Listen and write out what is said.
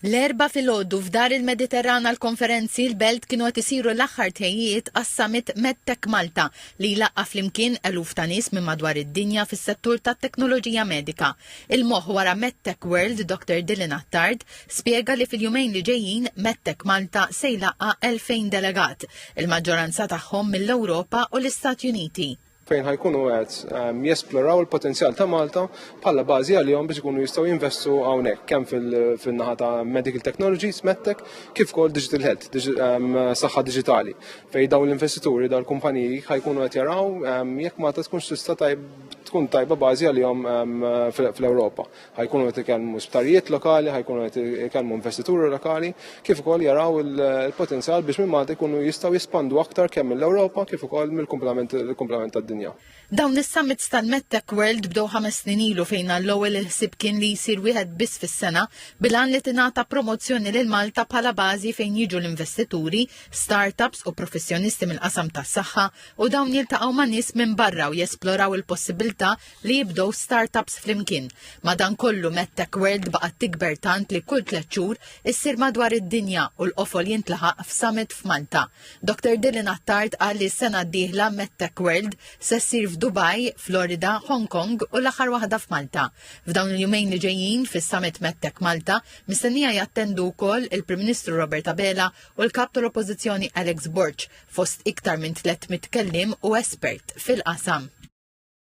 L-Erbgħa filgħodu f'Dar il-Mediterran għall-Konferenzi l-Belt kienu qed isiru l-aħħar tħejjijiet għas-Summit MedTech Malta li jlaqqa' flimkien eluf ta' nies minn madwar id-dinja fis-settur tat-teknoloġija medika. Il-moħħ wara MedTech World, Doctor Dylan Attard, spjega li fil-jumejn li ġejjin MedTech Malta se jlaqqa' 2,000 delegat, il-maġġoranza tagħhom mill-Ewropa u l-Istati Uniti. fejn ħajkunu għed ehm, jesploraw il-potenzjal ta' Malta bħala bażi għalihom biex ikunu jistgħu jinvestu hawnhekk kemm fil-naħa ta' medical technologies, medtech, kif kol digital health, ehm, saħħa digitali. Fejn dawn l-investituri dal-kumpaniji ħajkunu qed jaraw ehm, jekk Malta tkun tista' tkun tajba bażi għalihom fl-Ewropa. ħajkunu qed ikellmu sptarijiet lokali, ħajkunu qed ikellmu investituri lokali, kif ukoll jaraw il-potenzjal biex minn Malta jkunu jistgħu jispandu aktar kemm mill-Ewropa kif ukoll mill-kumplament tad-dinja. Dawn is-summits tal-MedTech World bdew ħames snin ilu fejn għall-ewwel il-ħsieb kien li jsir wieħed biss fis-sena bil-għan li tingħata promozzjoni lil Malta bħala bażi fejn jiġu l-investituri, startups u professjonisti mill-qasam tas-saħħa u dawn jiltaqgħu ma' nies minn barra u jesploraw il-possibilità li jibdew start-ups flimkien. Madankollu MedTech World baqgħet tikber tant li kull tliet xhur issir madwar id-dinja u l-qofol jintlaħaq f'summit f'Malta. Doctor Dylan Attard qal li s-sena d-dieħla MedTech World se ssir f'Dubai, Florida, Hong Kong u l-aħħar waħda f'Malta. F'dawn il-jumejn li ġejjin fis-Summit MedTech Malta mistennija jattendu wkoll il-Prim Ministru Robert Abela u l-Kap tal-Oppożizzjoni Alex Borg fost iktar minn 300 kelliem u espert fil-qasam.